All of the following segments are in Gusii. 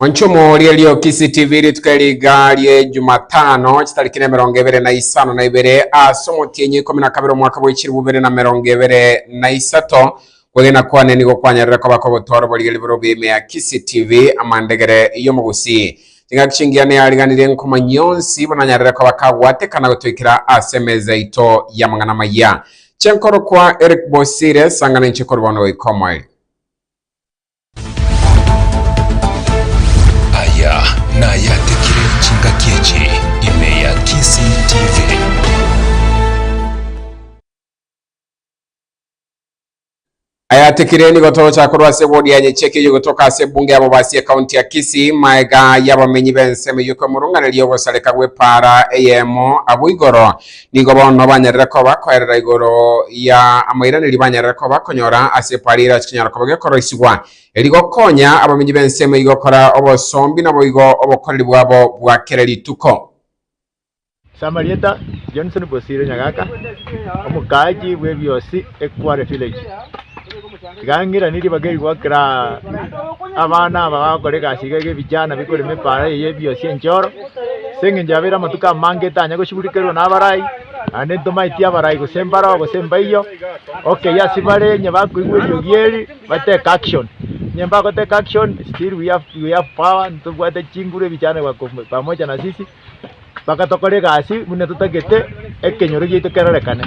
Mwanchomo ria Riokisi TV rituko riga rie Jumatano chitariki na emerongo ebere na isano na ibere ase omotienyi ikomi na kabere omwaka bwe chilifu ibere na merongo ebere na isato. Kwegena kwane nigo kwanyarire koba kogotwara oborigereria bore obweime ya Kisii TV amandegere y'omogusii. Chingaki chingiya neyariganirie nkomanyia onsi buna anyarire koba kagwatekana gotoikera ase emeza yaito y'amang'ana amaya. Chenkorokwa Eric Bosire, sangana inche korwa bono goika omoerio. Aya nayatekire chingaki echi ime ya Kisii TV. Ayatekire nigo torocha korwa ase wodi ya Nyecheke eyio gotoka ase ebunge ya Bobasi ekaunti ya Kisii, maega y'abamenyi b'ensemo eyio kwemurunganeria ogosareka gw'epaara eyemo abwo igoro Nigo bono banyarire koba koerera igoro ya amoiranerio banyarire koba konyora ase eparira chinyara koba gekoroisigwa, erio gokonya abamenyi b'ensemo eyio gokora obosombi naboigo obokoreri bwabo bwa kera rituko. Ase amarieta, Johnson Bosire Nyagaka, Omokaachi bw'Ebiosi Ekware Village. Tiga ng'iranie ribaga erigwa kera abana aba bagokora egasi iga iga ebijana bikorema epaara eye y'ebiosi enchoro, ase engencho yabeire amatuko amange etanya gosiburikerwa nabarai, naende ntomaeti abarai gose mbaroo gose mbaiyo, okei ase bare onye bakoigwa eriogi eri bateke action. Onye mbagoteka action still we have we have power ntobwate chinguru ebijana bako pamoja na sisi. bagatokora egasi buna totagete ekenyoro giaito kerorekane.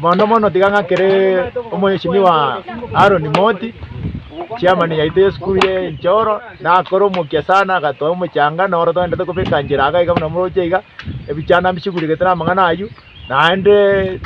Mono mono tiga ng'a keree omweshimiwa Aaron Moti, chairman yaito y'esukuru ye Enchoro, nakore omokia sana agatoa omochanga noro togende kobeka nchera iga iga buna moroche iga, ebichanda mbisiguregete na amang'ana aywo, naende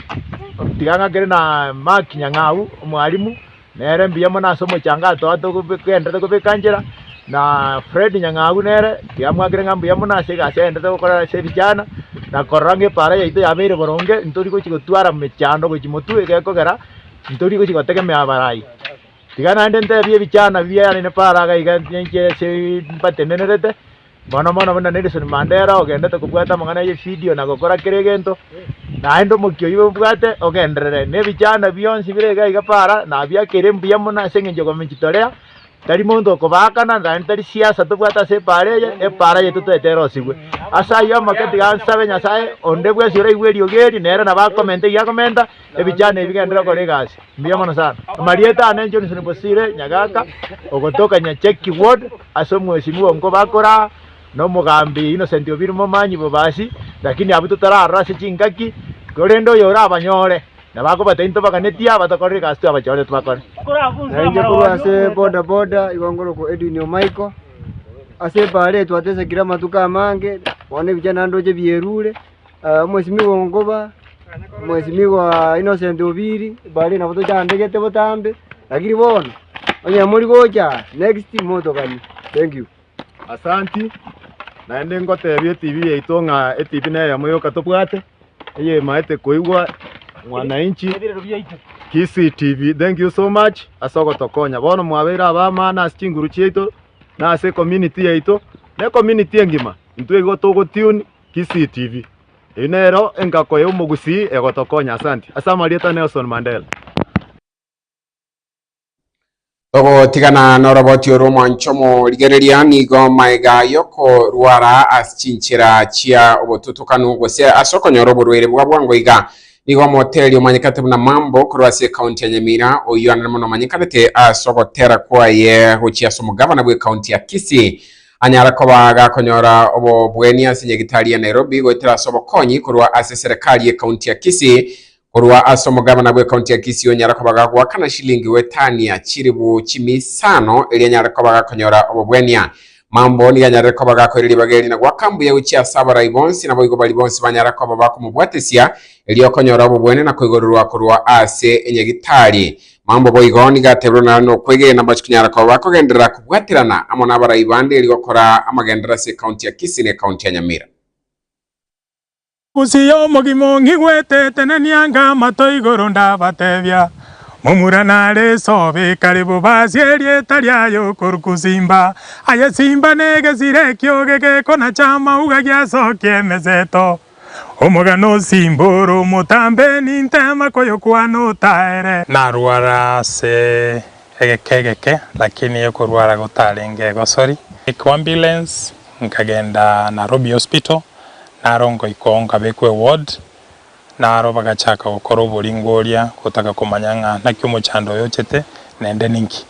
tiga ng'akere na Mark Nyang'au, omwalimu. Nere mbuya mono ase omochangato oye togenderete kobeka nchera, na Fred Nyang'au nere tiamwakire ng'a mbuya mono ase egasi agenderete gokora ase vijana, na korora ng'a epaara yaito yabeire boronge, ntori gochi gotwara mechando gochi motwe egekogera, ntori gochi gotegemea abarai. Tiga naende ntebie vijana biaye nere Paara iga ninche ase mbatenenerete. Mono mono buna Nelson Mandela ogendete kobwata amang'ana ye video na gokora kera egento, naende omokia oyio obwate ogenderere na ebichanda bionsi bire iga iga para nabia kere mbuya mono ase eng'encho ya kojitorea, tari monto okobaakana naende tari siasa tobwate ase epaara eye, epaara yeito toete erosigwe. Ase ayio amake tiga nsabe Nyasae onde bwensi oraigwe eriogi eri nere nabo akomente iga akomenta, Ebichano ebi bigenderere gokora egasi mbuya mono sana. Amarieta ane Johnson Bosire Nyagaka ogotoka Nyacheki Ward ase omwesinwa oo nkobakoraa na omogambi Innocent Obiri Momanyi Bobasi lakini abwo totararora ase chingaki korende oyo orabanyore nabo akobatebi ntobaganetie aba tokorora egasi twabachorete bakore. Na inche korwa ase boda boda igo ngorokwa Edwin Omaiko. Ase ebaare eye twatesekire amatuko amange bono ebichani naende oche bierure. Omosibigwa o Nkoba, Omosibigwa Innocent Obiri, bare nabo tochandegete botambe, lakini bono onye mori gocha next motoganie. Thank you. Asanti, naende ngotebia etibi yaito ng'a etibi neye eyemo yoka tobwate, eye emaete koigwa Mwananchi, Kisii TV, thank you so much ase ogotokonya. Bono mwabeire abamano ase chinguru chiaito, na ase ecommunity yaito, na ecommunity engima, intwe igo togo tune. Kisii TV. Eyio nero engako ya omogusii egotokonya. Asanti. Ase amarieta Nelson Mandela. Togotigana noroboti oro mwancho morigereria nigo maega yokorwara as chinchera chia obotutokanu gose ase okonyora oborwaire bwa bwango iga nigo omoteri omanyekete buna Mambo korwa ase ekaunti ya Nyamira oyio anene mono omanyekanete as ogotera kwaye gochia ase omogavana bwe kaunti ya Kisii Anyare koba agakonyora obobwenia ase nyagitari ya Nairobi goetera ase obokonyi korwa ase serekari ye county ya Kisii. Korwa ase omogavana bwe county ya Kisii onyare koba gagoakana shilingi goetania chilibu chimisano eria anyare koba agakonyora obobwenia. Mambo nigo anyarire koba agakoira ribaga eri na goaka mbuya gochia ase abarai bonsi naboigo bari bonsi banyare koba bakomobwatesia erio okonyora obobwenia na koigorerwa korwa ase enyagitari. Mambia boigo nigo ateberwe naro nokwegena ambache kunyara koba bakogenderera kobwaterana amo nabarai bande erio gokora amagenderero ase ekaunti ya Kisii na ekaunti ya Nyamira. Gose y'omogima ong'igwete etenenia nga amato igoro ndabatebia, Momura nare esobe ekare bobasie erieta riaye okoru kusimba, aye simba negesire ekioge gekonacha amauga giasokia emeseto. Omogano osimbore omotambe, nintema koyokwana otaere. Narwara ase egeka egeke lakini ekorwara gotarenge egosori. Kwa ambulance nkagenda Narobi hospital naro nkoikoo nkabekwa eward naro bagachaka gokora oboringo oria gotaka komanya ng'a naki omochando oyo ochete nende ninki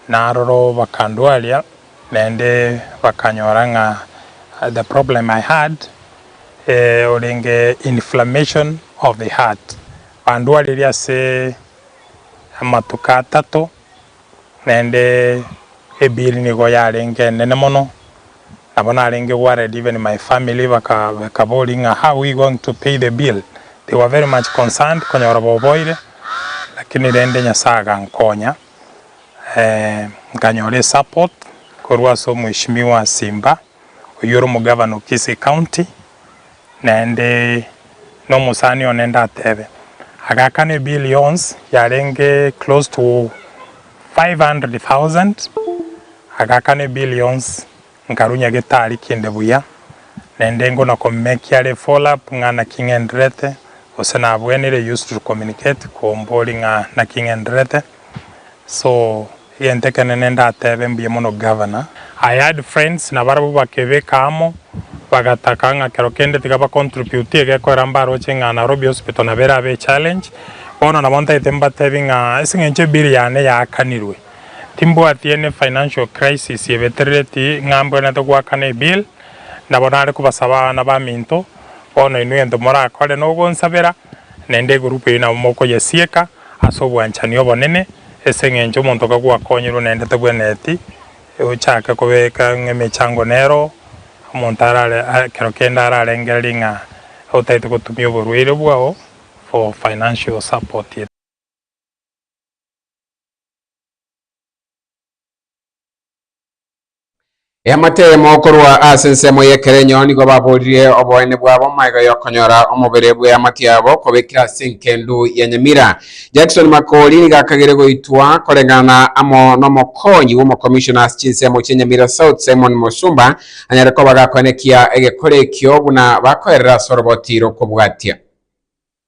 naroro bakandwaria Naende bakanyora ng'a the problem I had orenge inflammation of the heart, bandwaririe ase amatuko atato, naende ebill nigo yarenge enene mono, nabo narenge worried even my family bakaboria ng'a how are we going to pay the bill, they were very much concerned konyora boboire, lakini rende Nyasaye agankonya. nkanyora esupport korwa ase omheshimiwa Simba oyio ore omogavana o Kisii county naende na omosani one ndatebe agakana ebill yonsi yarenge close to five hundred thousand agakana ebill yonsi. Nkarunya getari kende buya, na endengo na komekia re follow up ng'a naki ng'endererete, gose nabwenire used to communicate kombori ng'a naki ng'endererete, so egento ekenene ndatebe mbuya mono Governor. I had friends na barabwo bakebeka amo, bagataka ng'a kero kende tiga ba contribute egekorera mbaroche ng'a Nairobi Hospital nabo erabe echallenge, bono nabo ntaete mbatebi ng'a ase eng'encho bill yane yaakanirwe, Timbwati any financial crisis ebeterereti ng'a mbwenerete goakana ebill, nabo nare kobasaba abana baminto, bono inwe egento morakore nogonsabera, naende egroup eyio nabo mokoyesieka ase obwanchani obonene, ase eng'encho omonto oka gwakonyorwe naende tebwenereti ochake kobeka ng'a emechango nero, omonto arare ekero kende ararengererie ng'a otagete gotumia oborwaire bwao for financial support. Eamotemo korwa ase ensemo y'ekerenyo nigo baborire oboene bwabo magega y'okonyora omobere bw'eamate yabo kobekire ase enkendu ya Nyamira. Jackson Makori nigo akagere goitwa koreng'ana amo n'omokonyi bw'omokomishona ase chinsemo chia Nyamira South Simon Musumba anyare koba gakoenekia egekore ekio buna bakoerera ase oroboti rokobwatia.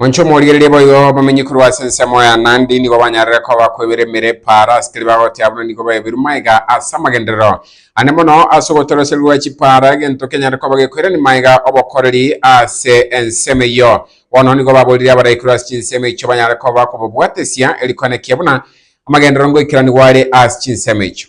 Monche omorigereria boigo abamenyi korwa ase ensemo ya Nandi nigo banyarire koba kwebera emere epaara ase keria bagotea buna nigo baeberwe maega ase amagenderero ane mono ase ogotoroserwa gwa chipaara egento kenyare koba gekoirani maega obokoreri ase ensemo eyio. Bono nigo baborire abarai korwa ase chinsemo echio banyare koba kobobwatesia eri kwana ekiya buna amagenderero ngoikerani gware ase chinsemo echio.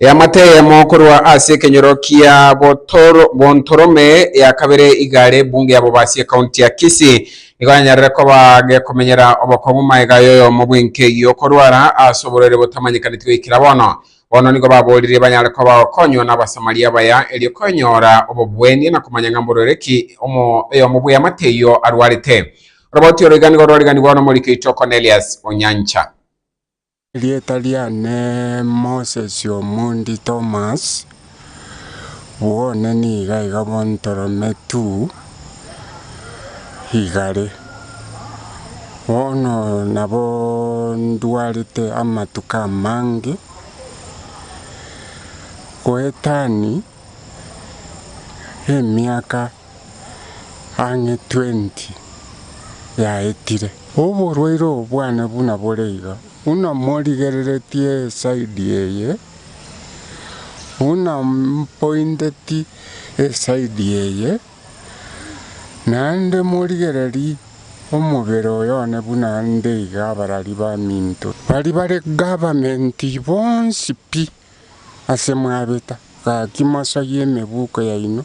Eamate eyemo korwa ase ekenyoro kia Botoro- Bontorome ya kabere igare ebunge ya Bobasi ekaunti ya Kisii nigo yanyarire koba gekomenyera obokong'u maega y'oyomo bw'enka eyio okorwara ase oborwaire botamanyekaneti goikera bono. Bono nigo baboririe banyare koba bagokonywa n'Abasamaria abaya, erio konyora obobwenia na komanya ng'a mborere ki oyomo bw'eamate eyio arwarete. Oroboti oro iga nigo rwariganigwa n'omoriki oito Cornelius o Nyancha. Erieta riane Moses Omondi Thomas. Bw'one nigo iga bontorome tu igare. Bono nabo ndwarete amatuko amange goetania emiaka. ang'e twenti yaetire. Oborwaire obwane buna bore iga, buna morigereretie esaidi eye, buna mpointeti esaidi eye, naende morigereri omobere oyone buna nde iga abarari baminto, baria bare government bonsi pi. ase mwabeta, gaki mosarie emebuko yaino.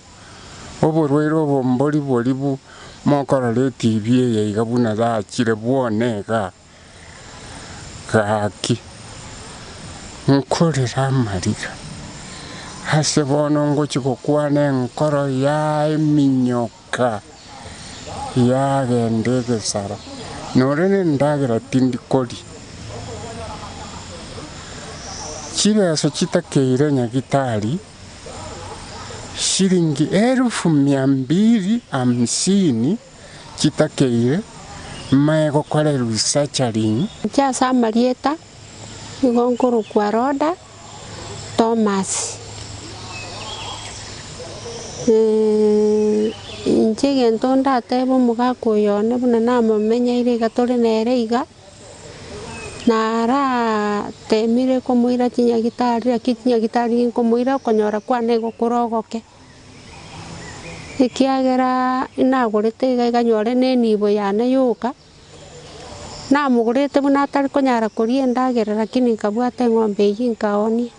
Oborwaire obo mboribori bu mokorora etibi eye iga buna yachire bwone iga, gaki nkorere amariga, ase bono ngochia gokwana enkoro yaye minyoko. Rebeka yagenda egesara, nore nendagera tindi koria. Chireso chitakeire nyagitari shilingi elufu mia mbili hamsini chitakeire, mae gokorerwa isachari. Inche ase amarieta Nigo nkorokwa Roda, Tomas, inche egento ndatebe omogaka oyo one buna namomenyeire iga tore nere iga, naratemire komoira chinyagitari lakini chinyagitari nkomoira okonyora kwane nigo kore ogoke, ekiagera nagorete iga ekanyora nenibo yane yoka. Namogorete buna atari konyara koria endagera lakini nkabwata eng'ombe eyio nkaoonia.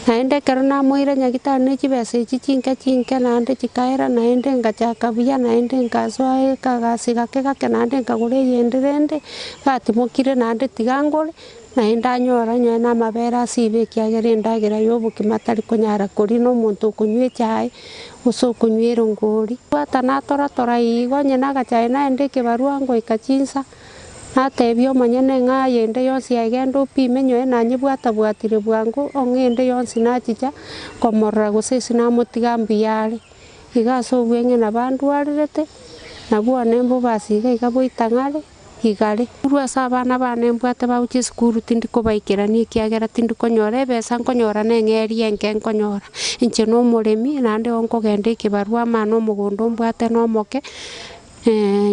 Naende ekero namoire nyagitari ne chibesa echi chinke chinke naende chikaera naende ngachaka buya naende nkasoa ekagasi gake gake naende nkagora eyende rende gatimokire naende tiga ngore Naende anyore onye namabere ase ibe ekiagera endagera y'obogima tari konyara koria nomonto okonywa echae, gose okonywa erongori. Bwata natoratora igo onye nagachae naende ekebarua ngoika chinsa, natebia omonyene ng'a aye ende yonsi aye genda opime nyoe nanyebwata bwatire bwango ong'e ende yonsi nachicha komorora gose ase namotiga mbuya are. Iga ase obweng'ina bandwarerete, nabwo one mbobasi iga iga boitang'are. igare. Korwa ase abana baane mbwate bagochia esukuru tindi kobaikerania ekiagera tindi konyora ebesa nkonyora neng'eria enke nkonyora. Inche nomoremi naende igo nkogenda ekebarua amana omogondo mbwate nomoke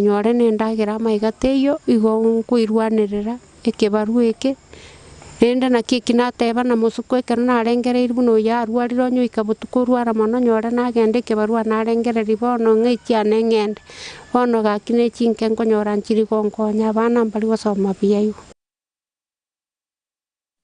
nyore nendagera amaiga teiyo igo nkoirwanerera ekebarua eke. Erinde naki eki nateba na mosuku ekero narengereiri buna oyio arwarire onye oika botuko orwara mono nyore nagenda ekebarua narengereiri bono ng'eiti ane ng'ende. Bono gaki ne chinke nkonyora nchiri gonkonya abana mbari gosoma buya igo.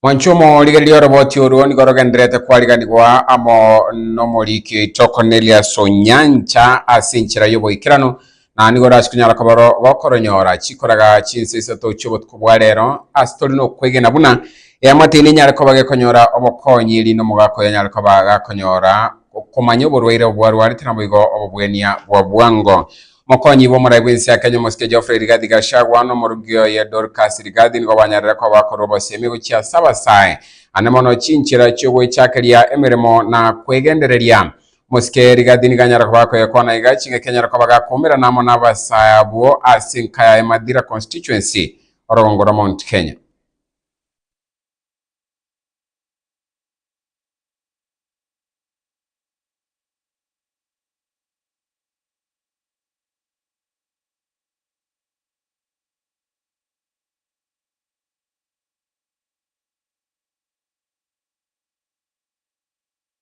Mwanche omorigereria oroboti orwo nigo rogendererete kwariganigwa amo nomoriki oito Cornelius Onyancha ase enchera y'oboikeranu na nigo orase konyara koboro gokoronyora chikoraga chinsa isato chi'obotuko bwa rero, ase tori nokwegena buna eamataine enyare koba gekonyora obokonyi, erinde omogaka oyo anyare koba gakonyora okomanya oborwaire obwarwarete naboigo obobwenia bwa bwango. Mokonyigwa omoraai bw'ense ya Kenya Omosike Geoffrey Rigathi Gachagua na omorugi oye Dorcas Rigathi nigo banyarire koba bakorwa obosemi gochia ase abasae ane mono chinchera chi'ogwechakeria emeremo na kwegendereria Mosike rigati niganyara koba akoyekwana iga chingaki anyare koba agakomerana amo n'abasae abwo ase enka yaye Mathira Constituency, orogongo rwa Mount Kenya.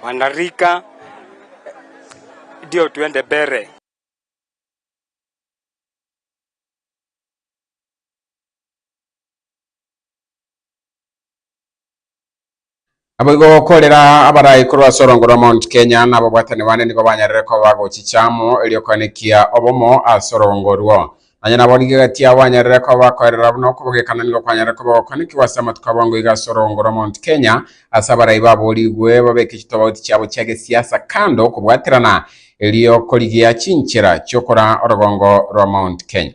Rwanda rika ndio twende mbere. Naboigo gokorera abarai korwa ase orongo rwa Mount Kenya na ababwatani bane nigo banyarire koba gochicha amo erio koanekia obomo ase orongo orwo. Nonya nabo nigo egati yabo banyarire koba bakoerera buna okobogekana nigo kwanyarire koba gokanekigwa ase amatuko abo ango iga ase orogongo rwa Mount Kenya ase abarai baborigwe babeke chitobauti chiabo chia gesiasa kando kobwaterana erio korigia chinchera chiokora orogongo rwa Mount Kenya.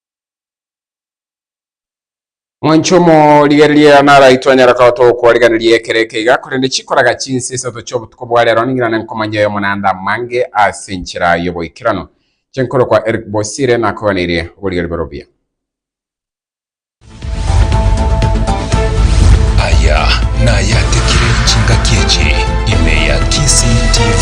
Mwanche omorigereria naraitwe anyare koba tokwariganirie ekero eke iga, korende chikoraga chinsa isato chi'obotuko bwa rero ning'ina na nkomanya oyomo naende amange ase enchera y'oboikeranu. Inche nkorokwa Eric Bosire nakoganeirie oborigereria borobio. Aya nayatekire chingaki echi ime ya Kisii TV.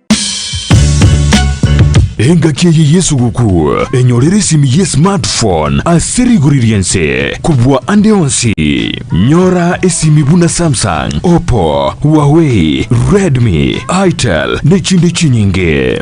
Engaki eye Yesu gokwa enyorire esimi ye smartphone ase rigori ri'ense kobua ande onsi. Nyora esimi buna Samsung, Oppo, Huawei, Redmi, Itel, ne chinde chinyinge.